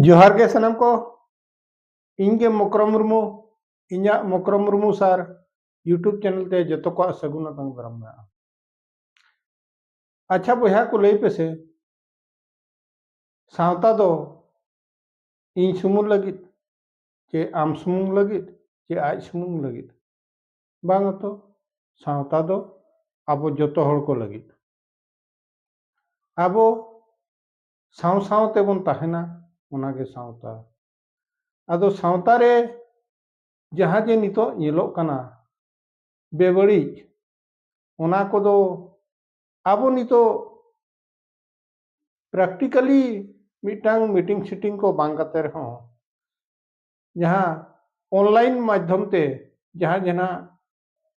ᱡᱚᱦᱟᱨ ᱜᱮ ᱥᱟᱱᱟᱢ ᱠᱚ ᱤᱧ ᱜᱮ ᱢᱚᱠᱨᱚᱢ ᱢᱩᱨᱢᱩ ᱤᱧᱟᱹᱜ Mokrom Murmu sir YouTube channel ᱛᱮ ᱡᱚᱛᱚ ᱠᱚᱣᱟᱜ ᱥᱟᱹᱜᱩᱱ ᱟᱛᱟᱝ ᱫᱟᱨᱟᱢ ᱢᱮᱱᱟᱜᱼᱟ ᱟᱪᱪᱷᱟ ᱵᱚᱭᱦᱟ ᱠᱚ ᱞᱟᱹᱭ ᱯᱮᱥᱮ ᱥᱟᱶᱛᱟ ᱫᱚ ᱤᱧ ᱥᱩᱢᱩᱝ ᱞᱟᱹᱜᱤᱫ ᱪᱮ ᱟᱢ ᱥᱩᱢᱩᱝ ᱞᱟᱹᱜᱤᱫ ᱪᱮ ᱟᱡ ᱥᱩᱢᱩᱝ ᱞᱟᱹᱜᱤᱫ ᱵᱟᱝ ᱛᱚ ᱥᱟᱶᱛᱟ ᱫᱚ ᱟᱵᱚ ᱡᱚᱛᱚ ᱦᱚᱲ ᱠᱚ ᱞᱟᱹᱜᱤᱫ ᱟᱵᱚ ᱥᱟᱶ ᱥᱟᱶ ᱛᱮᱵᱚᱱ ᱛᱟᱦᱮᱱᱟ ᱚᱱᱟᱜᱮ ᱥᱟᱶᱛᱟ ᱟᱫᱚ ᱥᱟᱶᱛᱟ ᱨᱮ ᱡᱟᱦᱟᱸ ᱡᱮ ᱱᱤᱛᱚᱜ ᱧᱮᱞᱚᱜ ᱠᱟᱱᱟ ᱵᱮᱵᱟᱹᱲᱤᱡ ᱚᱱᱟ ᱠᱚᱫᱚ ᱟᱵᱚ ᱱᱤᱛᱚᱜ ᱯᱨᱮᱠᱴᱤᱠᱟᱞᱤ ᱢᱤᱫᱴᱟᱝ ᱢᱤᱴᱤᱝ ᱥᱤᱴᱤᱝ ᱠᱚ ᱵᱟᱝ ᱠᱟᱛᱮ ᱨᱮᱦᱚᱸ ᱡᱟᱦᱟᱸ ᱚᱱᱞᱟᱭᱤᱱ ᱢᱟᱫᱽᱫᱷᱚᱢ ᱛᱮ ᱡᱟᱦᱟᱸ ᱡᱟᱦᱟᱸ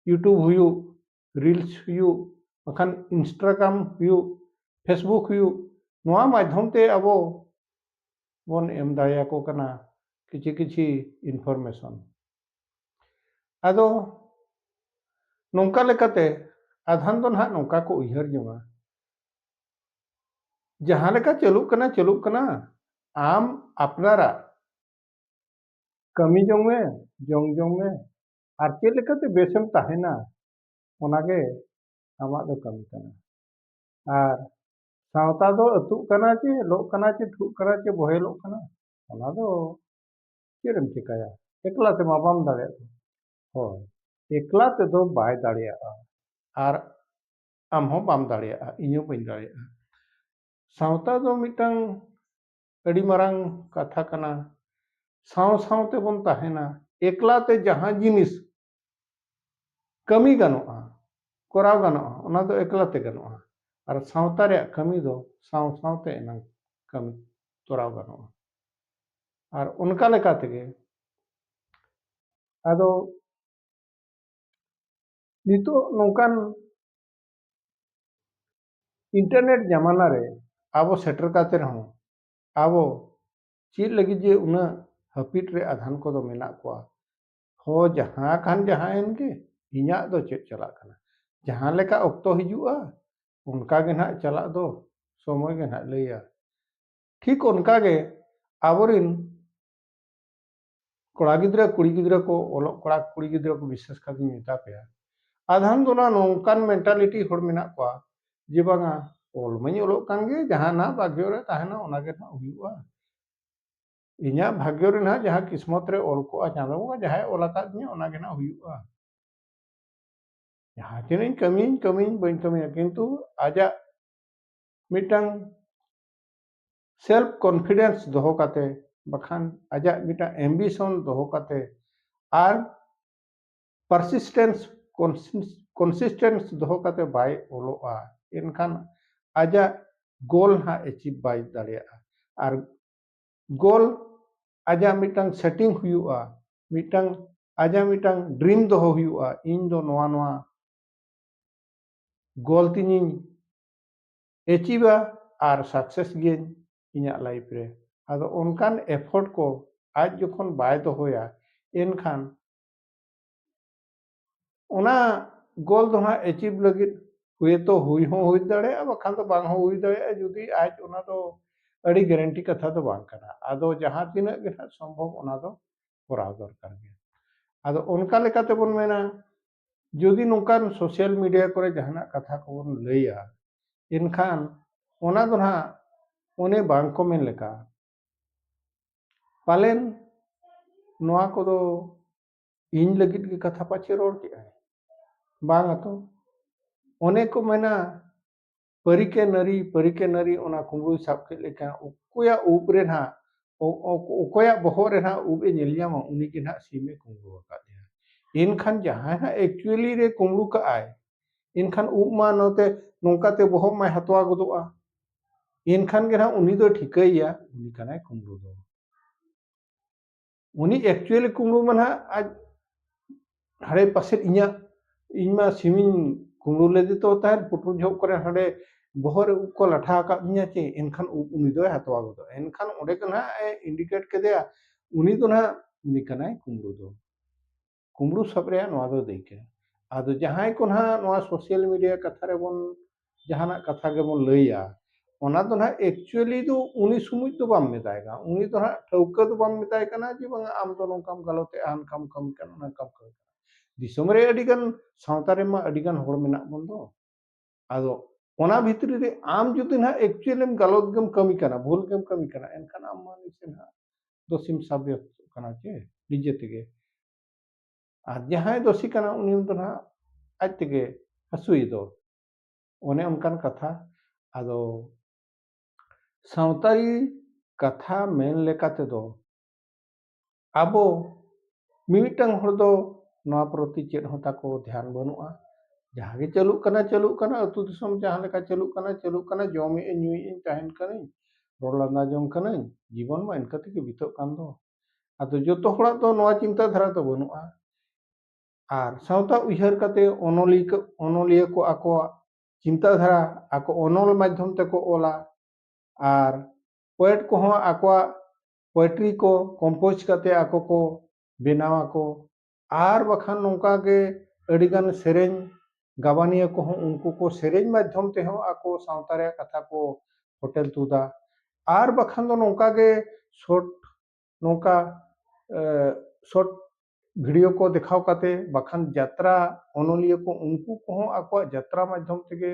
ᱤᱭᱩᱴᱩᱵᱽ ᱦᱩᱭᱩᱜ ᱨᱤᱞᱥ ᱦᱩᱭᱩᱜ ᱵᱟᱠᱷᱟᱱ ᱤᱱᱥᱴᱟᱜᱨᱟᱢ ᱦᱩᱭᱩᱜ ᱯᱷᱮᱥᱵᱩᱠ ᱦᱩᱭᱩᱜ ᱱᱚᱣᱟ ᱢᱟᱫᱽᱫᱷᱚᱢ ᱛᱮ ᱟᱵᱚ ᱵᱚᱱ ᱮᱢ ᱫᱟᱲᱮᱭᱟᱠᱚ ᱠᱟᱱᱟ ᱠᱤᱪᱷᱤ ᱠᱤᱪᱷᱤ ᱤᱱᱯᱷᱚᱨᱢᱮᱥᱚᱱ ᱟᱫᱚ ᱱᱚᱝᱠᱟ ᱞᱮᱠᱟᱛᱮ ᱟᱫᱷᱟᱱ ᱫᱚ ᱱᱟᱦᱟᱜ ᱱᱚᱝᱠᱟ ᱠᱚ ᱩᱭᱦᱟᱹᱨ ᱡᱚᱝᱟ ᱡᱟᱦᱟᱸ ᱞᱮᱠᱟ ᱪᱟᱹᱞᱩᱜ ᱠᱟᱱᱟ ᱪᱟᱹᱞᱩᱜ ᱠᱟᱱᱟ ᱟᱢ ᱟᱯᱱᱟᱨᱟᱜ ᱠᱟᱹᱢᱤ ᱡᱚᱝ ᱢᱮ ᱡᱚᱢ ᱡᱚᱝ ᱢᱮ ᱟᱨ ᱪᱮᱫ ᱞᱮᱠᱟᱛᱮ ᱵᱮᱥᱮᱢ ᱛᱟᱦᱮᱱᱟ ᱚᱱᱟᱜᱮ ᱟᱢᱟᱜ ᱫᱚ ᱠᱟᱹᱢᱤ ᱠᱟᱱᱟ ᱟᱨ ᱥᱟᱶᱛᱟ ᱫᱚ ᱟᱹᱛᱩᱜ ᱠᱟᱱᱟ ᱪᱮ ᱞᱚᱜ ᱠᱟᱱᱟ ᱪᱮ ᱴᱷᱩᱜ ᱠᱟᱱᱟ ᱪᱮ ᱵᱚᱦᱮᱞᱚᱜ ᱠᱟᱱᱟ ᱚᱱᱟ ᱫᱚ ᱪᱮᱫ ᱮᱢ ᱪᱮᱠᱟᱭᱟ ᱮᱠᱞᱟ ᱛᱮᱢᱟ ᱵᱟᱢ ᱫᱟᱲᱮᱭᱟᱜ ᱦᱳᱭ ᱮᱠᱞᱟ ᱛᱮᱫᱚ ᱵᱟᱭ ᱫᱟᱲᱮᱭᱟᱜᱼᱟ ᱟᱨ ᱟᱢ ᱦᱚᱸ ᱵᱟᱢ ᱫᱟᱲᱮᱭᱟᱜᱼᱟ ᱤᱧ ᱦᱚᱸ ᱵᱟᱹᱧ ᱫᱟᱲᱮᱭᱟᱜᱼᱟ ᱥᱟᱶᱛᱟ ᱫᱚ ᱢᱤᱫᱴᱟᱝ ᱟᱹᱰᱤ ᱢᱟᱨᱟᱝ ᱠᱟᱛᱷᱟ ᱠᱟᱱᱟ ᱥᱟᱶ ᱥᱟᱶ ᱛᱮᱵᱚᱱ ᱛᱟᱦᱮᱱᱟ ᱮᱠᱞᱟ ᱛᱮ ᱡᱟᱦᱟᱸ ᱡᱤᱱᱤᱥ ᱠᱟᱹᱢᱤ ᱜᱟᱱᱚᱜᱼᱟ ᱠᱚᱨᱟᱣ ᱜᱟᱱᱚᱜᱼᱟ ᱚᱱᱟ ᱫᱚ ᱮᱠᱞᱟ ᱛᱮ ᱜᱟᱱᱚᱜᱼᱟ ᱟᱨ ᱥᱟᱶᱛᱟ ᱨᱮᱭᱟᱜ ᱠᱟᱹᱢᱤ ᱫᱚ ᱥᱟᱶ ᱥᱟᱶᱛᱮ ᱮᱱᱟᱝ ᱠᱟᱹᱢᱤ ᱛᱚᱨᱟᱣ ᱜᱟᱱᱚᱜᱼᱟ ᱟᱨ ᱚᱱᱠᱟ ᱞᱮᱠᱟ ᱛᱮᱜᱮ ᱟᱫᱚ ᱱᱤᱛᱚᱜ ᱱᱚᱝᱠᱟᱱ ᱤᱱᱴᱟᱨᱱᱮᱴ ᱡᱟᱢᱟᱱᱟ ᱨᱮ ᱟᱵᱚ ᱥᱮᱴᱮᱨ ᱠᱟᱛᱮ ᱨᱮᱦᱚᱸ ᱟᱵᱚ ᱪᱮᱫ ᱞᱟᱹᱜᱤᱫ ᱡᱮ ᱩᱱᱟᱹᱜ ᱦᱟᱹᱯᱤᱫ ᱨᱮ ᱟᱫᱷᱟᱱ ᱠᱚᱫᱚ ᱢᱮᱱᱟᱜ ᱠᱚᱣᱟ ᱦᱚ ᱡᱟᱦᱟᱸ ᱠᱷᱟᱱ ᱡᱟᱦᱟᱸ ᱮᱱ ᱜᱮ ᱤᱧᱟᱹᱜ ᱫᱚ ᱪᱮᱫ ᱪᱟᱞᱟᱜ ᱠᱟᱱᱟ ᱡᱟᱦᱟᱸ ᱞᱮᱠᱟ ᱚᱠᱛᱚ ᱦᱤᱡᱩᱜᱼᱟ ᱚᱱᱠᱟ ᱜᱮ ᱱᱟᱦᱟᱜ ᱪᱟᱞᱟᱜ ᱫᱚ ᱥᱚᱢᱚᱭ ᱜᱮ ᱱᱟᱦᱟᱜ ᱞᱟᱹᱭᱟ ᱴᱷᱤᱠ ᱚᱱᱠᱟ ᱜᱮ ᱟᱵᱚ ᱨᱮᱱ ᱠᱚᱲᱟ ᱜᱤᱫᱽᱨᱟᱹ ᱠᱩᱲᱤ ᱜᱤᱫᱽᱨᱟᱹ ᱠᱚ ᱚᱞᱚᱜ ᱠᱚᱲᱟ ᱠᱩᱲᱤ ᱜᱤᱫᱽᱨᱟᱹ ᱠᱚ ᱵᱤᱥᱮᱥ ᱠᱟᱛᱮᱧ ᱢᱮᱛᱟ ᱯᱮᱭᱟ ᱟᱫᱷᱟᱱ ᱫᱚ ᱱᱟ ᱱᱚᱝᱠᱟᱱ ᱢᱮᱱᱴᱟᱞᱤᱴᱤ ᱦᱚᱲ ᱢᱮᱱᱟᱜ ᱠᱚᱣᱟ ᱡᱮ ᱵᱟᱝᱟ ᱚᱞ ᱢᱟᱹᱧ ᱚᱞᱚᱜ ᱠᱟᱱ ᱜᱮ ᱡᱟᱦᱟᱸ ᱱᱟᱦᱟᱜ ᱵᱷᱟᱜᱽᱭᱚ ᱨᱮ ᱛᱟᱦᱮᱱᱟ ᱚᱱᱟ ᱜᱮ ᱱᱟᱦᱟᱜ ᱦᱩᱭᱩᱜᱼᱟ ᱤᱧᱟᱹᱜ ᱵᱷᱟᱜᱽᱭᱚ ᱨᱮ ᱱᱟᱦᱟᱜ ᱡᱟᱦᱟᱸ ᱠᱤᱥᱢᱚᱛ ᱨᱮ ᱚᱞ ᱠᱚᱜᱼᱟ ᱪᱟᱸᱫᱚ ᱵᱚᱸᱜᱟ ᱡᱟᱦᱟᱸᱭ ᱚᱞ ᱟᱠᱟᱫ ᱛᱤᱧᱟᱹ ᱚᱱᱟ ᱜᱮ ᱱᱟᱦᱟᱜ ᱦᱩᱭᱩᱜᱼᱟ ᱡᱟᱦᱟᱸ ᱛᱤᱱᱟᱹᱜ ᱤᱧ ᱠᱟᱹᱢᱤᱭᱟᱹᱧ ᱠᱟᱹᱢᱤᱭᱟᱹᱧ ᱵᱟᱹᱧ ᱠᱟᱹᱢᱤᱭᱟ ᱠᱤᱱᱛᱩ ᱟᱡᱟᱜ ᱢᱤᱫᱴᱟᱝ ᱥᱮᱞᱯ ᱠᱚᱱᱯᱷᱤᱰᱮᱱᱥ ᱫᱚᱦᱚ ᱠᱟᱛᱮ ᱵᱟᱠᱷᱟᱱ ᱟᱡᱟᱜ ᱢᱤᱫᱴᱟᱝ ᱮᱢᱵᱤᱥᱚᱱ ᱫᱚᱦᱚ ᱠᱟᱛᱮ ᱟᱨ ᱯᱟᱨᱥᱤᱥᱴᱮᱱᱥ ᱠᱚᱱᱥᱤᱥᱴᱮᱱᱥ ᱫᱚᱦᱚ ᱠᱟᱛᱮ ᱵᱟᱭ ᱚᱞᱚᱜᱼᱟ ᱮᱱᱠᱷᱟᱱ ᱟᱡᱟᱜ ᱜᱳᱞ ᱦᱟᱸᱜ ᱮᱪᱤᱵᱷ ᱵᱟᱭ ᱫᱟᱲᱮᱭᱟᱜᱼᱟ ᱟᱨ ᱜᱳᱞ ᱟᱡᱟᱜ ᱢᱤᱫᱴᱟᱝ ᱥᱮᱴᱤᱝ ᱦᱩᱭᱩᱜᱼᱟ ᱢᱤᱫᱴᱟᱝ ᱟᱡᱟᱜ ᱢᱤᱫᱴᱟᱝ ᱰᱨᱤᱢ ᱫᱚᱦᱚ ᱦᱩᱭᱩᱜᱼᱟ ᱤᱧ ᱫᱚ ᱱᱚᱣᱟ ᱱᱚᱣᱟ ᱜᱳᱞ ᱛᱤᱧᱤᱧ ᱮᱪᱤᱵᱟ ᱟᱨ ᱥᱟᱠᱥᱮᱥ ᱜᱤᱭᱟᱹᱧ ᱤᱧᱟᱹᱜ ᱞᱟᱭᱤᱯᱷ ᱨᱮ ᱟᱫᱚ ᱚᱱᱠᱟᱱ ᱮᱯᱷᱳᱨᱴ ᱠᱚ ᱟᱡ ᱡᱚᱠᱷᱚᱱ ᱵᱟᱭ ᱫᱚᱦᱚᱭᱟ ᱮᱱᱠᱷᱟᱱ ᱚᱱᱟ ᱜᱳᱞ ᱫᱚ ᱦᱟᱸᱜ ᱮᱪᱤᱵ ᱞᱟᱹᱜᱤᱫ ᱦᱩᱭᱛᱚ ᱦᱩᱭ ᱦᱚᱸ ᱦᱩᱭ ᱫᱟᱲᱮᱭᱟᱜᱼᱟ ᱵᱟᱠᱷᱟᱱ ᱫᱚ ᱵᱟᱝ ᱦᱚᱸ ᱦᱩᱭ ᱫᱟᱲᱮᱭᱟᱜᱼᱟ ᱡᱩᱫᱤ ᱟᱡ ᱚᱱᱟ ᱫᱚ ᱟᱹᱰᱤ ᱜᱮᱨᱮᱱᱴᱤ ᱠᱟᱛᱷᱟ ᱫᱚ ᱵᱟᱝ ᱠᱟᱱᱟ ᱟᱫᱚ ᱡᱟᱦᱟᱸ ᱛᱤᱱᱟᱹᱜ ᱜᱮ ᱦᱟᱸᱜ ᱥᱚᱢᱵᱷᱚᱵ ᱚᱱᱟ ᱫᱚ ᱠᱚᱨᱟᱣ ᱫᱚᱨᱠᱟᱨ ᱜᱮ ᱟᱫᱚ ᱚᱱᱠᱟ ᱞᱮᱠᱟᱛᱮ ᱵᱚᱱ ᱢᱮᱱᱟ ᱡᱩᱫᱤ ᱱᱚᱝᱠᱟᱱ ᱥᱳᱥᱟᱞ ᱢᱤᱰᱤᱭᱟ ᱠᱚᱨᱮ ᱡᱟᱦᱟᱱᱟᱜ ᱠᱟᱛᱷᱟ ᱠᱚᱵᱚᱱ ᱞᱟᱹᱭᱟ ᱮᱱᱠᱷᱟᱱ ᱚᱱᱟ ᱫᱚ ᱱᱟᱦᱟᱜ ᱚᱱᱮ ᱵᱟᱝ ᱠᱚ ᱢᱮᱱ ᱞᱮᱠᱟ ᱯᱟᱞᱮᱱ ᱱᱚᱣᱟ ᱠᱚᱫᱚ ᱤᱧ ᱞᱟᱹᱜᱤᱫ ᱜᱮ ᱠᱟᱛᱷᱟ ᱯᱟᱪᱮ ᱨᱚᱲ ᱠᱮᱜᱼᱟᱭ ᱵᱟᱝ ᱟᱛᱚ ᱚᱱᱮ ᱠᱚ ᱢᱮᱱᱟ ᱯᱟᱹᱨᱤᱠᱮ ᱱᱟᱹᱨᱤ ᱯᱟᱹᱨᱤᱠᱮ ᱱᱟᱹᱨᱤ ᱚᱱᱟ ᱠᱩᱢᱵᱽᱲᱩᱭ ᱥᱟᱵ ᱠᱮᱫ ᱞᱮᱠᱷᱟᱱ ᱚᱠᱚᱭᱟᱜ ᱩᱵ ᱨᱮ ᱱᱟᱦᱟᱜ ᱚᱠᱚᱭᱟᱜ ᱵᱚᱦᱚᱜ ᱨᱮ ᱱᱟᱦᱟᱜ ᱩᱵ ᱮ ᱧᱮᱞ ᱧᱟᱢᱟ ᱩᱱᱤ ᱜᱮ ᱱᱟᱦᱟᱜ ᱥᱤᱢ ᱮ ᱠᱩᱢᱵᱽᱲᱩ ᱟᱠᱟᱫᱮᱭᱟ ᱮᱱᱠᱷᱟᱱ ᱡᱟᱦᱟᱸᱭ ᱦᱟᱸᱜ ᱮᱠᱪᱩᱭᱮᱞᱤ ᱨᱮ ᱠᱩᱢᱵᱽᱲᱩ ᱠᱟᱜᱼᱟᱭ ᱮᱱᱠᱷᱟᱱ ᱩᱵ ᱢᱟ ᱱᱚᱛᱮ ᱱᱚᱝᱠᱟᱛᱮ ᱵᱚᱦᱚᱜ ᱢᱟᱭ ᱦᱟᱛᱣᱟ ᱜᱚᱫᱚᱜᱼᱟ ᱮᱱᱠᱷᱟᱱ ᱜᱮ ᱱᱟᱦᱟᱜ ᱩᱱᱤ ᱫᱚ ᱴᱷᱤᱠᱟᱹᱭᱮᱭᱟ ᱩᱱᱤ ᱠᱟᱱᱟᱭ ᱠᱩᱢᱵᱽᱲᱩ ᱫᱚ ᱩᱱᱤ ᱮᱠᱪᱩᱭᱮᱞᱤ ᱠᱩᱢᱲᱩ ᱢᱟ ᱱᱟᱦᱟᱜ ᱟᱡ ᱦᱟᱲᱮ ᱯᱟᱥᱮ ᱤᱧᱟᱹᱜ ᱤᱧ ᱢᱟ ᱥᱤᱢᱤᱧ ᱠᱩᱢᱲᱩ ᱞᱮᱫᱮ ᱛᱚ ᱛᱟᱦᱮᱸᱫ ᱯᱩᱴᱩᱨ ᱡᱚᱦᱚᱜ ᱠᱚᱨᱮ ᱦᱟᱸᱰᱮ ᱵᱚᱦᱚᱜ ᱨᱮ ᱩᱵ ᱠᱚ ᱞᱟᱴᱷᱟ ᱟᱠᱟᱫ ᱛᱤᱧᱟᱹ ᱪᱮ ᱮᱱᱠᱷᱟᱱ ᱩᱵ ᱩᱱᱤ ᱫᱚᱭ ᱦᱟᱛᱣᱟ ᱜᱚᱫᱚᱜᱼᱟ ᱮᱱᱠᱷᱟᱱ ᱚᱸᱰᱮ ᱜᱮ ᱱᱟᱦᱟᱜ ᱮ ᱤᱱᱰᱤᱠᱮᱴ ᱠᱮᱫᱮᱭᱟ ᱩᱱᱤ ᱫᱚ ᱱᱟᱦᱟᱜ ᱩᱱᱤ ᱠᱟᱱᱟᱭ ᱠᱩᱢᱲᱩ ᱫᱚ ᱠᱩᱢᱵᱽᱲᱩ ᱥᱟᱵ ᱨᱮᱭᱟᱜ ᱱᱚᱣᱟ ᱫᱚ ᱫᱟᱹᱭᱠᱟᱹ ᱟᱫᱚ ᱡᱟᱦᱟᱸᱭ ᱠᱚ ᱱᱟᱦᱟᱜ ᱱᱚᱣᱟ ᱥᱳᱥᱟᱞ ᱢᱤᱰᱤᱭᱟ ᱠᱟᱛᱷᱟ ᱨᱮᱵᱚᱱ ᱡᱟᱦᱟᱱᱟᱜ ᱠᱟᱛᱷᱟ ᱜᱮᱵᱚᱱ ᱞᱟᱹᱭᱟ ᱚᱱᱟ ᱫᱚ ᱱᱟᱦᱟᱜ ᱮᱠᱪᱩᱭᱮᱞᱤ ᱫᱚ ᱩᱱᱤ ᱥᱩᱢᱩᱡ ᱫᱚ ᱵᱟᱢ ᱢᱮᱛᱟᱭ ᱠᱟᱱᱟ ᱩᱱᱤ ᱫᱚ ᱱᱟᱦᱟᱜ ᱴᱷᱟᱹᱣᱠᱟᱹ ᱫᱚ ᱵᱟᱢ ᱢᱮᱛᱟᱭ ᱠᱟᱱᱟ ᱡᱮ ᱵᱟᱝᱟ ᱟᱢ ᱫᱚ ᱱᱚᱝᱠᱟᱢ ᱜᱟᱞᱚᱛᱮᱜᱼᱟ ᱦᱟᱱᱠᱟᱢ ᱠᱟᱹᱢᱤ ᱠᱟᱱᱟ ᱱᱚᱝᱠᱟᱢ ᱠᱟᱹᱢᱤ ᱠᱟᱱᱟ ᱫᱤᱥᱚᱢ ᱨᱮ ᱟᱹᱰᱤ ᱜᱟᱱ ᱥᱟᱶᱛᱟ ᱨᱮᱢᱟ ᱟᱹᱰᱤ ᱜᱟᱱ ᱦᱚᱲ ᱢᱮᱱᱟᱜ ᱵᱚᱱ ᱫᱚ ᱟᱫᱚ ᱚᱱᱟ ᱵᱷᱤᱛᱨᱤ ᱨᱮ ᱟᱢ ᱡᱩᱫᱤ ᱱᱟᱜ ᱮᱠᱪᱩᱭᱮᱞ ᱮᱢ ᱜᱟᱞᱚᱛ ᱜᱮᱢ ᱠᱟᱹᱢᱤ ᱠᱟᱱᱟ ᱵᱷᱩᱞ ᱜᱮᱢ ᱠᱟᱹᱢᱤ ᱠᱟᱱᱟ ᱮᱱᱠᱷᱟᱱ ᱟᱢ ᱢᱟ ᱱᱤᱥᱮ ᱱᱟᱜ ᱫᱳᱥᱤᱢ ᱥᱟᱵᱭᱚᱥᱛᱚᱜ ᱠᱟᱱᱟ ᱪᱮ ᱱᱤᱡᱮ ᱛᱮᱜᱮ ᱟᱨ ᱡᱟᱦᱟᱸᱭ ᱫᱳᱥᱤ ᱠᱟᱱᱟ ᱩᱱᱤ ᱫᱚ ᱱᱟᱜ ᱟᱡ ᱛᱮᱜᱮ ᱦᱟᱹᱥᱩᱭ ᱫᱚ ᱚᱱᱮ ᱚᱱᱠᱟᱱ ᱠᱟᱛᱷᱟ ᱟᱫᱚ ᱥᱟᱶᱛᱟᱨᱤ ᱠᱟᱛᱷᱟ ᱢᱮᱱ ᱞᱮᱠᱟ ᱛᱮᱫᱚ ᱟᱵᱚ ᱢᱤᱢᱤᱫᱴᱟᱝ ᱦᱚᱲ ᱫᱚ ᱱᱚᱣᱟ ᱯᱨᱚᱛᱤ ᱪᱮᱫ ᱦᱚᱸ ᱛᱟᱠᱚ ᱫᱷᱮᱭᱟᱱ ᱵᱟᱹᱱᱩᱜᱼᱟ ᱡᱟᱦᱟᱸ ᱜᱮ ᱪᱟᱹᱞᱩᱜ ᱠᱟᱱᱟ ᱪᱟᱹᱞᱩᱜ ᱠᱟᱱᱟ ᱟᱛᱳ ᱫᱤᱥᱚᱢ ᱡᱟᱦᱟᱸ ᱞᱮᱠᱟ ᱪᱟᱹᱞᱩᱜ ᱠᱟᱱᱟ ᱪᱟᱹᱞᱩᱜ ᱠᱟᱱᱟ ᱡᱚᱢᱮᱜ ᱟᱹᱧ ᱧᱩᱭᱮᱜ ᱟᱹᱧ ᱛᱟᱦᱮᱱ ᱠᱟᱹᱱᱟᱹᱧ ᱨᱚᱲ ᱞᱟᱸᱫᱟ ᱡᱚᱝ ᱠᱟᱹᱱᱟᱹᱧ ᱡᱤᱵᱚᱱ ᱢᱟ ᱤᱱᱠᱟᱹ ᱛᱮᱜᱮ ᱵᱤᱛᱟᱹᱜ ᱠᱟᱱ ᱫᱚ ᱟᱫᱚ ᱡᱚᱛᱚ ᱦᱚᱲᱟᱜ ᱫᱚ ᱱᱚᱣᱟ ᱪᱤᱱᱛᱟᱹ ᱫᱷᱟᱨᱟ ᱫᱚ ᱵᱟᱹᱱᱩᱜᱼᱟ ᱟᱨ ᱥᱟᱶᱛᱟ ᱩᱭᱦᱟᱹᱨ ᱠᱟᱛᱮ ᱚᱱᱚᱞᱤᱭᱟᱹ ᱚᱱᱚᱞᱤᱭᱟᱹ ᱠᱚ ᱟᱠᱚᱣᱟᱜ ᱪᱤᱱᱛᱟᱹ ᱫᱷᱟᱨᱟ ᱟᱠᱚ ᱚᱱᱚᱞ ᱢᱟᱫᱽᱫᱷᱚᱢ ᱛᱮᱠᱚ ᱚᱞᱟ ᱟᱨ ᱯᱳᱭᱮᱴ ᱠᱚᱦᱚᱸ ᱟᱠᱚᱣᱟᱜ ᱯᱚᱭᱮᱴᱨᱤ ᱠᱚ ᱠᱚᱢᱯᱳᱡᱽ ᱠᱟᱛᱮ ᱟᱠᱚ ᱠᱚ ᱵᱮᱱᱟᱣ ᱟᱠᱚ ᱟᱨ ᱵᱟᱠᱷᱟᱱ ᱱᱚᱝᱠᱟ ᱜᱮ ᱟᱹᱰᱤ ᱜᱟᱱ ᱥᱮᱨᱮᱧ ᱜᱟᱵᱟᱱᱤᱭᱟᱹ ᱠᱚᱦᱚᱸ ᱩᱱᱠᱩ ᱠᱚ ᱥᱮᱨᱮᱧ ᱢᱟᱫᱽᱫᱷᱚᱢ ᱛᱮᱦᱚᱸ ᱟᱠᱚ ᱥᱟᱶᱛᱟ ᱨᱮᱭᱟᱜ ᱠᱟᱛᱷᱟ ᱠᱚ ᱯᱷᱚᱴᱮᱞ ᱛᱩᱫᱟ ᱟᱨ ᱵᱟᱠᱷᱟᱱ ᱫᱚ ᱱᱚᱝᱠᱟ ᱜᱮ ᱥᱚᱨᱴ ᱱᱚᱝᱠᱟ ᱥᱚᱨᱴ ᱵᱷᱤᱰᱤᱭᱳ ᱠᱚ ᱫᱮᱠᱷᱟᱣ ᱠᱟᱛᱮ ᱵᱟᱠᱷᱟᱱ ᱡᱟᱛᱨᱟ ᱚᱱᱚᱞᱤᱭᱟᱹ ᱠᱚ ᱩᱱᱠᱩ ᱠᱚᱦᱚᱸ ᱟᱠᱚᱣᱟᱜ ᱡᱟᱛᱨᱟ ᱢᱟᱫᱽᱫᱷᱚᱢ ᱛᱮᱜᱮ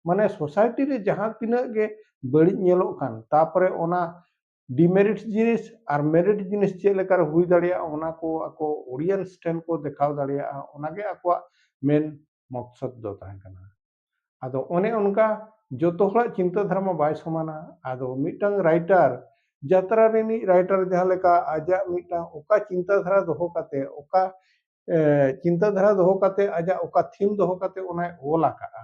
ᱢᱟᱱᱮ ᱥᱳᱥᱟᱭᱴᱤ ᱨᱮ ᱡᱟᱦᱟᱸ ᱛᱤᱱᱟᱹᱜ ᱜᱮ ᱵᱟᱹᱲᱤᱡ ᱧᱮᱞᱚᱜ ᱠᱟᱱ ᱛᱟᱯᱚᱨᱮ ᱚᱱᱟ ᱰᱤᱢᱮᱨᱤᱴ ᱡᱤᱱᱤᱥ ᱟᱨ ᱢᱮᱨᱤᱴ ᱡᱤᱱᱤᱥ ᱪᱮᱫ ᱞᱮᱠᱟᱨᱮ ᱦᱩᱭ ᱫᱟᱲᱮᱭᱟᱜᱼᱟ ᱚᱱᱟ ᱠᱚ ᱟᱠᱚ ᱚᱰᱤᱭᱮᱱᱥ ᱴᱷᱮᱱ ᱠᱚ ᱫᱮᱠᱷᱟᱣ ᱫᱟᱲᱮᱭᱟᱜᱼᱟ ᱚᱱᱟᱜᱮ ᱟᱠᱚᱣᱟᱜ ᱢᱮᱱ ᱢᱚᱠᱥᱚᱫ ᱫᱚ ᱛᱟᱦᱮᱸ ᱠᱟᱱᱟ ᱟᱫᱚ ᱚᱱᱮ ᱚᱱᱠᱟ ᱡᱚᱛᱚ ᱦᱚᱲᱟᱜ ᱪᱤᱱᱛᱟᱹ ᱫᱷᱟᱨᱟ ᱢᱟ ᱵᱟᱭ ᱥᱚᱢᱟᱱᱟ ᱟᱫᱚ ᱢᱤᱫᱴᱟᱝ ᱨᱟᱭᱴᱟᱨ ᱡᱟᱛᱨᱟ ᱨᱤᱱᱤᱡ ᱨᱟᱭᱴᱟᱨ ᱡᱟᱦᱟᱸ ᱞᱮᱠᱟ ᱟᱡᱟᱜ ᱢᱤᱫᱴᱟᱝ ᱚᱠᱟ ᱪᱤᱱᱛᱟᱹ ᱫᱷᱟᱨᱟ ᱫᱚᱦᱚ ᱠᱟᱛᱮ ᱚᱠᱟ ᱪᱤᱱᱛᱟᱹ ᱫᱷᱟᱨᱟ ᱫᱚᱦᱚ ᱠᱟᱛᱮ ᱟᱡᱟᱜ ᱚᱠᱟ ᱛᱷᱤᱢ ᱫᱚᱦᱚ ᱠᱟᱛᱮ ᱚᱱᱟᱭ ᱚᱞ ᱟᱠᱟᱫᱼᱟ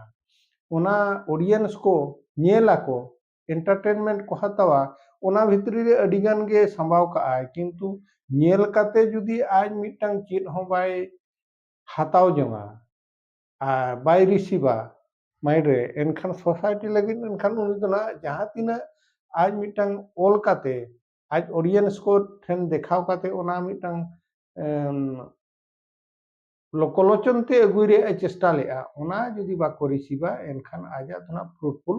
ᱚᱱᱟ ᱚᱰᱤᱭᱮᱱᱥ ᱠᱚ ᱧᱮᱞ ᱟᱠᱚ ᱮᱱᱴᱟᱨᱴᱮᱱᱢᱮᱱᱴ ᱠᱚ ᱦᱟᱛᱟᱣᱟ ᱚᱱᱟ ᱵᱷᱤᱛᱨᱤ ᱨᱮ ᱟᱹᱰᱤ ᱜᱟᱱ ᱜᱮ ᱥᱟᱢᱵᱟᱣ ᱠᱟᱜᱼᱟᱭ ᱠᱤᱱᱛᱩ ᱧᱮᱞ ᱠᱟᱛᱮ ᱡᱩᱫᱤ ᱟᱡ ᱢᱤᱫᱴᱟᱝ ᱪᱮᱫ ᱦᱚᱸ ᱵᱟᱭ ᱦᱟᱛᱟᱣ ᱡᱚᱝᱟ ᱟᱨ ᱵᱟᱭ ᱨᱤᱥᱤᱵᱟ ᱢᱟᱭᱤᱱᱰ ᱨᱮ ᱮᱱᱠᱷᱟᱱ ᱥᱳᱥᱟᱭᱴᱤ ᱞᱟᱹᱜᱤᱫ ᱮᱱᱠᱷᱟᱱ ᱩᱱᱤ ᱫᱚ ᱱᱟᱦᱟᱜ ᱡᱟᱦᱟᱸ ᱛᱤᱱᱟᱹᱜ ᱟᱡ ᱢᱤᱫᱴᱟᱝ ᱚᱞ ᱠᱟᱛᱮ ᱟᱡ ᱚᱰᱤᱭᱮᱱᱥ ᱠᱚ ᱴᱷᱮᱱ ᱫᱮᱠᱷᱟᱣ ᱠᱟᱛᱮ ᱚᱱᱟ ᱢᱤᱫᱴᱟᱝ ᱞᱳᱠᱚᱞᱳᱪᱚᱱ ᱛᱮ ᱟᱹᱜᱩᱭ ᱨᱮᱭᱟᱜ ᱮ ᱪᱮᱥᱴᱟ ᱞᱮᱫᱼᱟ ᱚᱱᱟ ᱡᱩᱫᱤ ᱵᱟᱠᱚ ᱨᱤᱥᱤᱵᱟ ᱮᱱᱠᱷᱟᱱ ᱟᱡᱟᱜ ᱫᱚ ᱱᱟᱦᱟᱜ ᱯᱷᱨᱩᱴᱯᱷᱩᱞ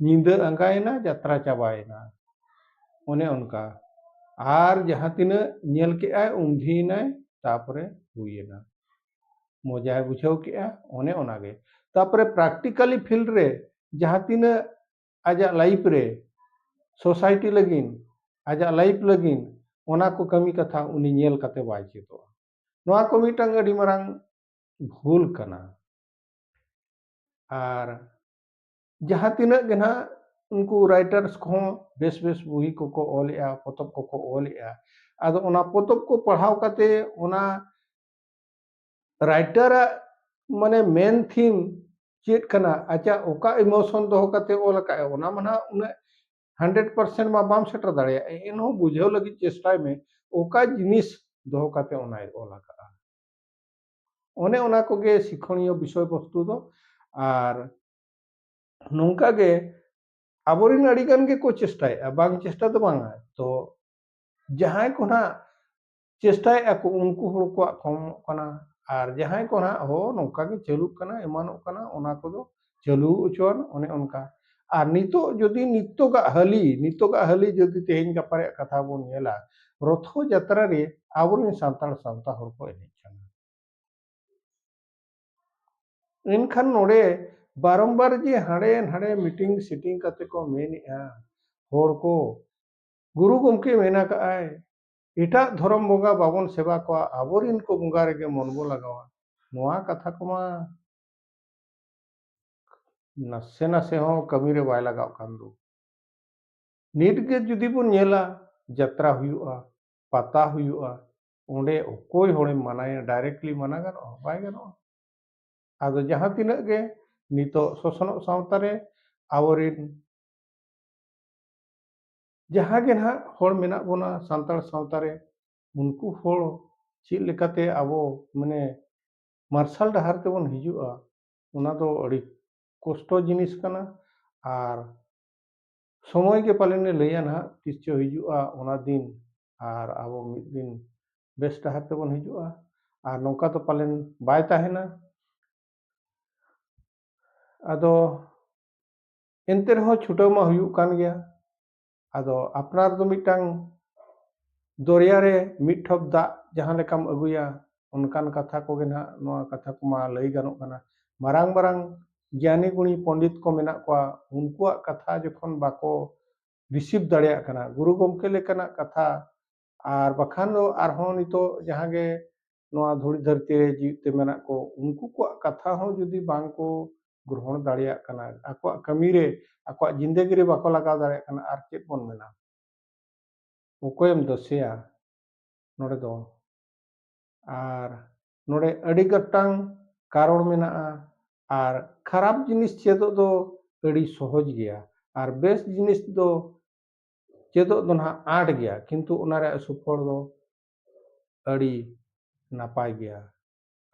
ᱧᱤᱫᱟᱹ ᱟᱸᱜᱟᱭᱮᱱᱟ ᱡᱟᱛᱨᱟ ᱪᱟᱵᱟᱭᱮᱱᱟ ᱚᱱᱮ ᱚᱱᱠᱟ ᱟᱨ ᱡᱟᱦᱟᱸ ᱛᱤᱱᱟᱹᱜ ᱧᱮᱞ ᱠᱮᱜᱼᱟᱭ ᱩᱢᱫᱷᱤᱭᱮᱱᱟᱭ ᱛᱟᱯᱚᱨᱮ ᱦᱩᱭᱮᱱᱟ ᱢᱚᱡᱟᱭ ᱵᱩᱡᱷᱟᱹᱣ ᱠᱮᱜᱼᱟ ᱚᱱᱮ ᱚᱱᱟᱜᱮ ᱛᱟᱯᱚᱨᱮ ᱯᱨᱟᱠᱴᱤᱠᱟᱞᱤ ᱯᱷᱤᱞᱰ ᱨᱮ ᱡᱟᱦᱟᱸ ᱛᱤᱱᱟᱹᱜ ᱟᱡᱟᱜ ᱞᱟᱭᱤᱯᱷ ᱨᱮ ᱥᱳᱥᱟᱭᱴᱤ ᱞᱟᱹᱜᱤᱫ ᱟᱡᱟᱜ ᱞᱟᱭᱤᱯᱷ ᱞᱟᱹᱜᱤᱫ ᱚᱱᱟ ᱠᱚ ᱠᱟᱹᱢᱤ ᱠᱟᱛᱷᱟ ᱩᱱᱤ ᱧᱮᱞ ᱠᱟᱛᱮ ᱵᱟᱭ ᱪᱮᱫᱚᱜᱼᱟ ᱱᱚᱣᱟ ᱠᱚ ᱢᱤᱫᱴᱟᱝ ᱟᱹᱰᱤ ᱢᱟᱨᱟᱝ ᱵᱷᱩᱞ ᱠᱟᱱᱟ ᱟᱨ ᱡᱟᱦᱟᱸ ᱛᱤᱱᱟᱹᱜ ᱜᱮ ᱱᱟᱦᱟᱜ ᱩᱱᱠᱩ ᱨᱟᱭᱴᱟᱨᱥ ᱠᱚᱦᱚᱸ ᱵᱮᱥ ᱵᱮᱥ ᱵᱩᱦᱤ ᱠᱚᱠᱚ ᱚᱞᱮᱜᱼᱟ ᱯᱚᱛᱚᱵ ᱠᱚᱠᱚ ᱚᱞᱮᱜᱼᱟ ᱟᱫᱚ ᱚᱱᱟ ᱯᱚᱛᱚᱵ ᱠᱚ ᱯᱟᱲᱦᱟᱣ ᱠᱟᱛᱮ ᱚᱱᱟ ᱨᱟᱭᱴᱟᱨᱟᱜ ᱢᱟᱱᱮ ᱢᱮᱱ ᱛᱷᱤᱢ ᱪᱮᱫ ᱠᱟᱱᱟ ᱟᱡᱟᱜ ᱚᱠᱟ ᱤᱢᱳᱥᱚᱱ ᱫᱚᱦᱚ ᱠᱟᱛᱮ ᱚᱞ ᱟᱠᱟᱫᱼᱟ ᱚᱱᱟ ᱢᱟ ᱱᱟᱦᱟᱜ ᱩᱱᱟᱹᱜ ᱦᱟᱱᱰᱨᱮᱰ ᱯᱟᱨᱥᱮᱱᱴ ᱢᱟ ᱵᱟᱢ ᱥᱮᱴᱮᱨ ᱫᱟᱲᱮᱭᱟᱜᱼᱟ ᱮᱱᱦᱚᱸ ᱵᱩᱡᱷᱟᱹᱣ ᱞᱟᱹᱜᱤᱫ ᱪᱮᱥᱴᱟᱭ ᱢᱮ ᱚᱠᱟ ᱡᱤᱱᱤᱥ ᱫᱚᱦᱚ ᱠᱟᱛᱮ ᱚᱱᱟᱭ ᱚᱞ ᱟᱠᱟᱫᱼᱟ ᱚᱱᱮ ᱚᱱᱟ ᱠᱚᱜᱮ ᱥᱤᱠᱷᱚᱱᱤᱭᱚ ᱵᱤᱥᱚᱭ ᱵᱚᱥᱛᱩ ᱫᱚ ᱟᱨ ᱱᱚᱝᱠᱟ ᱜᱮ ᱟᱵᱚᱨᱮᱱ ᱟᱹᱰᱤ ᱜᱟᱱ ᱜᱮᱠᱚ ᱪᱮᱥᱴᱟᱭᱮᱫᱼᱟ ᱵᱟᱝ ᱪᱮᱥᱴᱟ ᱫᱚ ᱵᱟᱝᱟ ᱛᱚ ᱡᱟᱦᱟᱸᱭ ᱠᱚ ᱱᱟᱦᱟᱜ ᱪᱮᱥᱴᱟᱭᱮᱫᱼᱟ ᱠᱚ ᱩᱱᱠᱩ ᱦᱚᱲ ᱠᱚᱣᱟᱜ ᱠᱚᱢᱚᱜ ᱠᱟᱱᱟ ᱟᱨ ᱡᱟᱦᱟᱸᱭ ᱠᱚ ᱱᱟᱦᱟᱜ ᱦᱚ ᱱᱚᱝᱠᱟ ᱜᱮ ᱪᱟᱹᱞᱩᱜ ᱠᱟᱱᱟ ᱮᱢᱟᱱᱚᱜ ᱠᱟᱱᱟ ᱚᱱᱟ ᱠᱚᱫᱚ ᱪᱟᱹᱞᱩ ᱦᱚᱪᱚᱣᱟᱱ ᱚᱱᱮ ᱚᱱᱠᱟ ᱟᱨ ᱱᱤᱛᱚᱜ ᱡᱩᱫᱤ ᱱᱤᱛᱚᱜᱟᱜ ᱦᱟᱹᱞᱤ ᱱᱤᱛᱚᱜᱟᱜ ᱦᱟᱹᱞᱤ ᱡᱩᱫᱤ ᱛᱮᱦᱮᱧ ᱜᱟᱯᱟ ᱨᱮᱭᱟᱜ ᱠᱟᱛᱷᱟ ᱵᱚᱱ ᱧᱮᱞᱟ ᱨᱚᱛᱷᱚ ᱡᱟᱛᱨᱟ ᱨᱮ ᱟᱵᱚᱨᱮᱱ ᱥᱟᱱᱛᱟᱲ ᱥᱟᱶᱛᱟ ᱦᱚᱲ ᱠᱚ ᱮᱱᱮᱡ ᱮᱱᱠᱷᱟᱱ ᱱᱚᱰᱮ ᱵᱟᱨᱚᱢᱵᱟᱨ ᱡᱮ ᱦᱟᱸᱰᱮ ᱱᱟᱰᱮ ᱢᱤᱴᱤᱝ ᱥᱤᱴᱤᱝ ᱠᱟᱛᱮ ᱠᱚ ᱢᱮᱱᱮᱜᱼᱟ ᱦᱚᱲ ᱠᱚ ᱜᱩᱨᱩ ᱜᱚᱢᱠᱮ ᱢᱮᱱ ᱟᱠᱟᱫᱼᱟᱭ ᱮᱴᱟᱜ ᱫᱷᱚᱨᱚᱢ ᱵᱚᱸᱜᱟ ᱵᱟᱵᱚᱱ ᱥᱮᱵᱟ ᱠᱚᱣᱟ ᱟᱵᱚᱨᱮᱱ ᱠᱚ ᱵᱚᱸᱜᱟ ᱨᱮᱜᱮ ᱢᱚᱱ ᱵᱚ ᱞᱟᱜᱟᱣᱟ ᱱᱚᱣᱟ ᱠᱟᱛᱷᱟ ᱠᱚᱢᱟ ᱱᱟᱥᱮ ᱱᱟᱥᱮ ᱦᱚᱸ ᱠᱟᱹᱢᱤᱨᱮ ᱵᱟᱭ ᱞᱟᱜᱟᱣ ᱠᱟᱱ ᱫᱚ ᱱᱤᱛᱜᱮ ᱡᱩᱫᱤ ᱵᱚᱱ ᱧᱮᱞᱟ ᱡᱟᱛᱨᱟ ᱦᱩᱭᱩᱜᱼᱟ ᱯᱟᱛᱟ ᱦᱩᱭᱩᱜᱼᱟ ᱚᱸᱰᱮ ᱚᱠᱚᱭ ᱦᱚᱲᱮᱢ ᱢᱟᱱᱟᱭᱟ ᱰᱟᱭᱨᱮᱠᱴᱞᱤ ᱢᱟᱱᱟ ᱜᱟᱱᱚᱜᱼᱟ ᱵᱟᱭ ᱜᱟᱱᱚᱜᱼᱟ ᱟᱫᱚ ᱡᱟᱦᱟᱸ ᱛᱤᱱᱟᱹᱜ ᱜᱮ ᱱᱤᱛᱚᱜ ᱥᱚᱥᱱᱚᱜ ᱥᱟᱶᱛᱟ ᱨᱮ ᱟᱵᱚᱨᱮᱱ ᱡᱟᱦᱟᱸ ᱜᱮ ᱱᱟᱦᱟᱜ ᱦᱚᱲ ᱢᱮᱱᱟᱜ ᱵᱚᱱᱟ ᱥᱟᱱᱛᱟᱲ ᱥᱟᱶᱛᱟ ᱨᱮ ᱩᱱᱠᱩ ᱦᱚᱲ ᱪᱮᱫ ᱞᱮᱠᱟᱛᱮ ᱟᱵᱚ ᱢᱟᱱᱮ ᱢᱟᱨᱥᱟᱞ ᱰᱟᱦᱟᱨ ᱛᱮᱵᱚᱱ ᱦᱤᱡᱩᱜᱼᱟ ᱚᱱᱟ ᱫᱚ ᱟᱹᱰᱤ ᱠᱚᱥᱴᱚ ᱡᱤᱱᱤᱥ ᱠᱟᱱᱟ ᱟᱨ ᱥᱚᱢᱚᱭ ᱜᱮ ᱯᱟᱞᱮᱱᱮ ᱞᱟᱹᱭᱟ ᱱᱟᱦᱟᱜ ᱛᱤᱥ ᱪᱚ ᱦᱤᱡᱩᱜᱼᱟ ᱚᱱᱟ ᱫᱤᱱ ᱟᱨ ᱟᱵᱚ ᱢᱤᱫ ᱫᱤᱱ ᱵᱮᱥ ᱰᱟᱦᱟᱨ ᱛᱮᱵᱚᱱ ᱦᱤᱡᱩᱜᱼᱟ ᱟᱨ ᱱᱚᱝᱠᱟ ᱫᱚ ᱯᱟᱞᱮᱱ ᱵᱟᱭ ᱛᱟᱦᱮᱱᱟ ᱟᱫᱚ ᱮᱱᱛᱮ ᱨᱮᱦᱚᱸ ᱪᱷᱩᱴᱟᱹᱣ ᱢᱟ ᱦᱩᱭᱩᱜ ᱠᱟᱱ ᱜᱮᱭᱟ ᱟᱫᱚ ᱟᱯᱱᱟᱨ ᱫᱚ ᱢᱤᱫᱴᱟᱝ ᱫᱚᱨᱭᱟ ᱨᱮ ᱢᱤᱫ ᱴᱷᱚᱯ ᱫᱟᱜ ᱡᱟᱦᱟᱸ ᱞᱮᱠᱟᱢ ᱟᱹᱜᱩᱭᱟ ᱚᱱᱠᱟᱱ ᱠᱟᱛᱷᱟ ᱠᱚᱜᱮ ᱱᱟᱦᱟᱜ ᱱᱚᱣᱟ ᱠᱟᱛᱷᱟ ᱠᱚᱢᱟ ᱞᱟᱹᱭ ᱜᱟᱱᱚᱜ ᱠᱟᱱᱟ ᱢᱟᱨᱟᱝ ᱢᱟᱨᱟᱝ ᱜᱮᱭᱟᱱᱤ ᱜᱩᱬᱤ ᱯᱚᱱᱰᱤᱛ ᱠᱚ ᱢᱮᱱᱟᱜ ᱠᱚᱣᱟ ᱩᱱᱠᱩᱣᱟᱜ ᱠᱟᱛᱷᱟ ᱡᱚᱠᱷᱚᱱ ᱵᱟᱠᱚ ᱨᱤᱥᱤᱵᱷ ᱫᱟᱲᱮᱭᱟᱜ ᱠᱟᱱᱟ ᱜᱩᱨᱩ ᱜᱚᱢᱠᱮ ᱞᱮᱠᱟᱱᱟᱜ ᱠᱟᱛᱷᱟ ᱟᱨ ᱵᱟᱠᱷᱟᱱ ᱫᱚ ᱟᱨᱦᱚᱸ ᱱᱤᱛᱚᱜ ᱡᱟᱦᱟᱸ ᱜᱮ ᱱᱚᱣᱟ ᱫᱷᱩᱲᱤ ᱫᱷᱟᱹᱨᱛᱤ ᱨᱮ ᱡᱤᱣᱮᱫ ᱛᱮ ᱢᱮᱱᱟᱜ ᱠᱚ ᱩᱱᱠᱩ ᱠᱚᱣᱟᱜ ᱠᱟᱛᱷᱟ ᱦᱚᱸ ᱡᱩᱫᱤ ᱵᱟᱝ ᱠᱚ ᱜᱨᱚᱦᱚᱱ ᱫᱟᱲᱮᱭᱟᱜ ᱠᱟᱱᱟ ᱟᱠᱚᱣᱟᱜ ᱠᱟᱹᱢᱤ ᱨᱮ ᱟᱠᱚᱣᱟᱜ ᱡᱤᱱᱫᱮᱜᱤ ᱨᱮ ᱵᱟᱠᱚ ᱞᱟᱜᱟᱣ ᱫᱟᱲᱮᱭᱟᱜ ᱠᱟᱱᱟ ᱟᱨ ᱪᱮᱫ ᱵᱚᱱ ᱢᱮᱱᱟ ᱚᱠᱚᱭᱮᱢ ᱫᱚᱥᱮᱭᱟ ᱱᱚᱰᱮ ᱫᱚ ᱟᱨ ᱱᱚᱰᱮ ᱟᱹᱰᱤ ᱜᱚᱴᱟᱝ ᱠᱟᱨᱚᱱ ᱢᱮᱱᱟᱜᱼᱟ ᱟᱨ ᱠᱷᱟᱨᱟᱯ ᱡᱤᱱᱤᱥ ᱪᱮᱫᱚᱜ ᱫᱚ ᱟᱹᱰᱤ ᱥᱚᱦᱚᱡᱽ ᱜᱮᱭᱟ ᱟᱨ ᱵᱮᱥ ᱡᱤᱱᱤᱥ ᱫᱚ ᱪᱮᱫᱚᱜ ᱫᱚ ᱱᱟᱦᱟᱜ ᱟᱸᱴ ᱜᱮᱭᱟ ᱠᱤᱱᱛᱩ ᱚᱱᱟ ᱨᱮᱭᱟᱜ ᱥᱩᱯᱷᱚᱞ ᱫᱚ ᱟᱹᱰᱤ ᱱᱟᱯᱟᱭ ᱜᱮᱭᱟ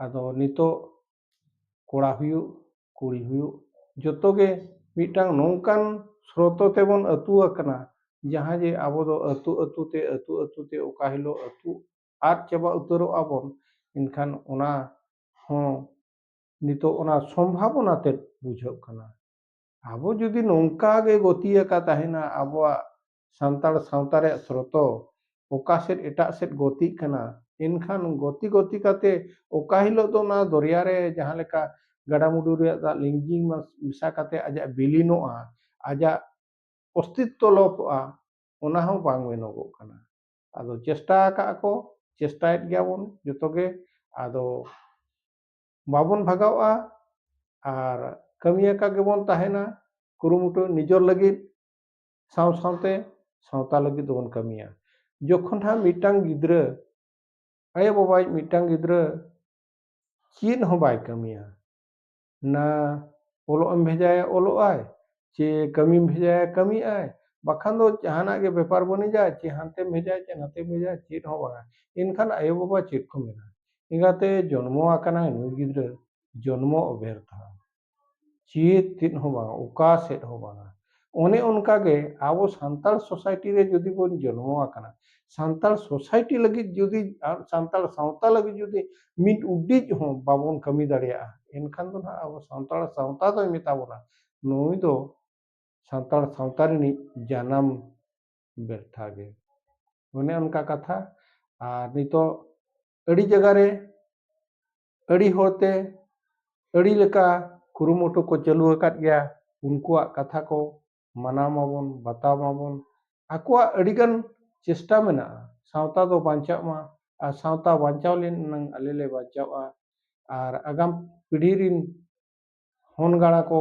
ᱟᱫᱚ ᱱᱤᱛᱚᱜ ᱠᱚᱲᱟ ᱦᱩᱭᱩᱜ ᱠᱩᱲᱤ ᱦᱩᱭᱩᱜ ᱡᱚᱛᱚ ᱜᱮ ᱢᱤᱫᱴᱟᱝ ᱱᱚᱝᱠᱟᱱ ᱥᱨᱚᱛᱚ ᱛᱮᱵᱚᱱ ᱟᱹᱛᱩ ᱟᱠᱟᱱᱟ ᱡᱟᱦᱟᱸ ᱡᱮ ᱟᱵᱚ ᱫᱚ ᱟᱹᱛᱩ ᱟᱹᱛᱩ ᱛᱮ ᱟᱹᱛᱩ ᱟᱹᱛᱩ ᱛᱮ ᱚᱠᱟ ᱦᱤᱞᱳᱜ ᱟᱹᱛᱩ ᱟᱫ ᱪᱟᱵᱟ ᱩᱛᱟᱹᱨᱚᱜ ᱟᱵᱚᱱ ᱮᱱᱠᱷᱟᱱ ᱚᱱᱟ ᱦᱚᱸ ᱱᱤᱛᱚᱜ ᱚᱱᱟ ᱥᱚᱢᱵᱷᱟᱵᱚᱱᱟ ᱛᱮᱫ ᱵᱩᱡᱷᱟᱹᱜ ᱠᱟᱱᱟ ᱟᱵᱚ ᱡᱩᱫᱤ ᱱᱚᱝᱠᱟ ᱜᱮ ᱜᱚᱛᱤ ᱟᱠᱟ ᱛᱟᱦᱮᱱᱟ ᱟᱵᱚᱣᱟᱜ ᱥᱟᱱᱛᱟᱲ ᱥᱟᱶᱛᱟ ᱨᱮᱭᱟᱜ ᱥᱨᱚᱛᱚ ᱚᱠᱟ ᱥᱮᱫ ᱮᱴᱟᱜ ᱥᱮᱫ ᱜᱚᱛᱤᱜ ᱠᱟᱱᱟ ᱮᱱᱠᱷᱟᱱ ᱜᱚᱛᱤ ᱜᱚᱛᱤ ᱠᱟᱛᱮ ᱚᱠᱟ ᱦᱤᱞᱳᱜ ᱫᱚ ᱚᱱᱟ ᱫᱚᱨᱭᱟ ᱨᱮ ᱡᱟᱦᱟᱸ ᱞᱮᱠᱟ ᱜᱟᱰᱟᱢᱩᱰᱩ ᱨᱮᱭᱟᱜ ᱫᱟᱜ ᱞᱤᱸᱡᱤ ᱢᱮᱥᱟ ᱠᱟᱛᱮ ᱟᱡᱟᱜ ᱵᱤᱞᱤᱱᱚᱜᱼᱟ ᱟᱡᱟᱜ ᱚᱥᱛᱤᱛᱛᱚ ᱞᱚᱯᱚᱜᱼᱟ ᱚᱱᱟ ᱦᱚᱸ ᱵᱟᱝ ᱢᱮᱱᱚᱜᱚᱜ ᱠᱟᱱᱟ ᱟᱫᱚ ᱪᱮᱥᱴᱟ ᱟᱠᱟᱫ ᱠᱚ ᱪᱮᱥᱴᱟᱭᱮᱫ ᱜᱮᱭᱟᱵᱚᱱ ᱡᱚᱛᱚ ᱜᱮ ᱟᱫᱚ ᱵᱟᱵᱚᱱ ᱵᱷᱟᱜᱟᱣᱜᱼᱟ ᱟᱨ ᱠᱟᱹᱢᱤᱭᱟᱠᱟ ᱜᱮᱵᱚᱱ ᱛᱟᱦᱮᱱᱟ ᱠᱩᱨᱩᱢᱩᱴᱩ ᱱᱤᱡᱚᱨ ᱞᱟᱹᱜᱤᱫ ᱥᱟᱶ ᱥᱟᱶᱛᱮ ᱥᱟᱶᱛᱟ ᱞᱟᱹᱜᱤᱫ ᱫᱚᱵᱚᱱ ᱠᱟᱹᱢᱤᱭᱟ ᱡᱚᱠᱷᱚᱱ ᱦᱟᱸᱜ ᱢᱤᱫᱴᱟᱝ ᱜᱤᱫᱽᱨᱟᱹ ᱟᱭᱳ ᱵᱟᱵᱟᱭᱤᱡ ᱢᱤᱫᱴᱟᱝ ᱜᱤᱫᱽᱨᱟᱹ ᱪᱮᱫ ᱦᱚᱸ ᱵᱟᱭ ᱠᱟᱹᱢᱤᱭᱟ ᱱᱟ ᱚᱞᱚᱜ ᱮᱢ ᱵᱷᱮᱡᱟᱭᱟ ᱚᱞᱚᱜ ᱟᱭ ᱪᱮ ᱠᱟᱹᱢᱤᱢ ᱵᱷᱮᱡᱟᱭᱟ ᱠᱟᱹᱢᱤᱜ ᱟᱭ ᱵᱟᱠᱷᱟᱱ ᱫᱚ ᱡᱟᱦᱟᱱᱟᱜ ᱜᱮ ᱵᱮᱯᱟᱨ ᱵᱟᱹᱱᱤᱡᱟ ᱪᱮ ᱦᱟᱱᱛᱮᱢ ᱵᱷᱮᱡᱟᱭ ᱪᱮ ᱱᱟᱛᱮᱢ ᱵᱷᱮᱡᱟᱭ ᱪᱮᱫ ᱦᱚᱸ ᱵᱟᱝᱟ ᱮᱱᱠᱷᱟᱱ ᱟᱭᱳ ᱵᱟᱵᱟ ᱪᱮᱫ ᱠᱚ ᱢᱮᱱᱟ ᱮᱸᱜᱟᱛᱮ ᱡᱚᱱᱢᱚ ᱟᱠᱟᱱᱟᱭ ᱱᱩᱭ ᱜᱤᱫᱽᱨᱟᱹ ᱡᱚᱱᱢᱚ ᱚᱵᱮᱨᱛᱷᱟ ᱪᱮᱫ ᱛᱮᱫ ᱦᱚᱸ ᱵᱟᱝᱟ ᱚᱠᱟ ᱥᱮᱫ ᱦᱚᱸ ᱵᱟᱝᱟ ᱚᱱᱮ ᱚᱱᱠᱟ ᱜᱮ ᱟᱵᱚ ᱥᱟᱱᱛᱟᱲ ᱥᱳᱥᱟᱭᱴᱤ ᱨᱮ ᱡᱩᱫᱤ ᱵᱚᱱ ᱡᱚᱱᱢᱚ ᱟᱠᱟᱱᱟ ᱥᱟᱱᱛᱟᱲ ᱥᱳᱥᱟᱭᱴᱤ ᱞᱟᱹᱜᱤᱫ ᱡᱩᱫᱤ ᱥᱟᱱᱛᱟᱲ ᱥᱟᱶᱛᱟ ᱞᱟᱹᱜᱤᱫ ᱡᱩᱫᱤ ᱢᱤᱫ ᱩᱰᱤᱡ ᱦᱚᱸ ᱵᱟᱵᱚᱱ ᱠᱟᱹᱢᱤ ᱫᱟᱲᱮᱭᱟᱜᱼᱟ ᱮᱱᱠᱷᱟᱱ ᱫᱚ ᱱᱟᱦᱟᱜ ᱟᱵᱚ ᱥᱟᱱᱛᱟᱲ ᱥᱟᱶᱛᱟ ᱫᱚᱭ ᱢᱮᱛᱟ ᱵᱚᱱᱟ ᱱᱩᱭ ᱫᱚ ᱥᱟᱱᱛᱟᱲ ᱥᱟᱶᱛᱟ ᱨᱤᱱᱤᱡ ᱡᱟᱱᱟᱢ ᱵᱮᱨᱛᱷᱟ ᱜᱮ ᱚᱱᱮ ᱚᱱᱠᱟ ᱠᱟᱛᱷᱟ ᱟᱨ ᱱᱤᱛᱚᱜ ᱟᱹᱰᱤ ᱡᱟᱭᱜᱟ ᱨᱮ ᱟᱹᱰᱤ ᱦᱚᱲᱛᱮ ᱟᱹᱰᱤ ᱞᱮᱠᱟ ᱠᱩᱨᱩᱢᱩᱴᱩ ᱠᱚ ᱪᱟᱹᱞᱩ ᱟᱠᱟᱫ ᱜᱮᱭᱟ ᱩᱱᱠᱩᱣᱟᱜ ᱠᱟᱛᱷᱟ ᱠᱚ ᱢᱟᱱᱟᱣ ᱢᱟᱵᱚᱱ ᱵᱟᱛᱟᱣ ᱢᱟᱵᱚᱱ ᱟᱠᱚᱣᱟᱜ ᱟᱹᱰᱤᱜᱟᱱ ᱪᱮᱥᱴᱟ ᱢᱮᱱᱟᱜᱼᱟ ᱥᱟᱶᱛᱟ ᱫᱚ ᱵᱟᱧᱪᱟᱜ ᱢᱟ ᱟᱨ ᱥᱟᱶᱛᱟ ᱵᱟᱧᱪᱟᱣ ᱞᱮᱱᱟᱝ ᱟᱞᱮ ᱞᱮ ᱵᱟᱧᱪᱟᱜᱼᱟ ᱟᱨ ᱟᱜᱟᱢ ᱯᱤᱲᱦᱤ ᱨᱤᱱ ᱦᱚᱱ ᱜᱟᱬᱟ ᱠᱚ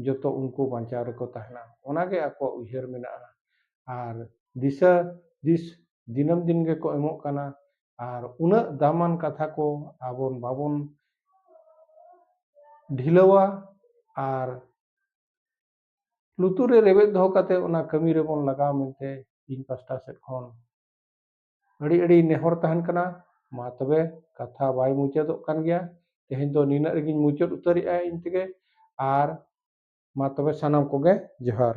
ᱡᱚᱛᱚ ᱩᱱᱠᱩ ᱵᱟᱧᱪᱟᱣ ᱨᱮᱠᱚ ᱛᱟᱦᱮᱱᱟ ᱚᱱᱟ ᱜᱮ ᱟᱠᱚᱣᱟᱜ ᱩᱭᱦᱟᱹᱨ ᱢᱮᱱᱟᱜᱼᱟ ᱟᱨ ᱫᱤᱥᱟᱹ ᱫᱤᱥ ᱫᱤᱱᱟᱹᱢ ᱫᱤᱱ ᱜᱮᱠᱚ ᱮᱢᱚᱜ ᱠᱟᱱᱟ ᱟᱨ ᱩᱱᱟᱹᱜ ᱫᱟᱢᱟᱱ ᱠᱟᱛᱷᱟ ᱠᱚ ᱟᱵᱚ ᱵᱟᱵᱚᱱ ᱰᱷᱤᱞᱟᱹᱣᱟ ᱟᱨ ᱞᱩᱛᱩᱨ ᱨᱮ ᱨᱮᱵᱮᱫ ᱫᱚᱦᱚ ᱠᱟᱛᱮ ᱚᱱᱟ ᱠᱟᱹᱢᱤ ᱨᱮᱵᱚᱱ ᱞᱟᱜᱟᱣ ᱢᱮᱱᱛᱮ ᱤᱧ ᱯᱟᱥᱴᱟ ᱥᱮᱫ ᱠᱷᱚᱱ ᱟᱹᱰᱤ ᱟᱹᱰᱤ ᱱᱮᱦᱚᱨ ᱛᱟᱦᱮᱱ ᱠᱟᱱᱟ ᱢᱟ ᱛᱚᱵᱮ ᱠᱟᱛᱷᱟ ᱵᱟᱭ ᱢᱩᱪᱟᱹᱫᱚᱜ ᱠᱟᱱ ᱜᱮᱭᱟ ᱛᱮᱦᱮᱧ ᱫᱚ ᱱᱤᱱᱟᱹᱜ ᱨᱮᱜᱮᱧ ᱢᱩᱪᱟᱹᱫ ᱩᱛᱟᱹᱨᱮᱜᱼᱟ ᱤᱧ ᱛᱮᱜᱮ ᱟᱨ ᱢᱟ ᱛᱚᱵᱮ ᱥᱟᱱᱟᱢ ᱠᱚᱜᱮ ᱡᱚᱦᱟᱨ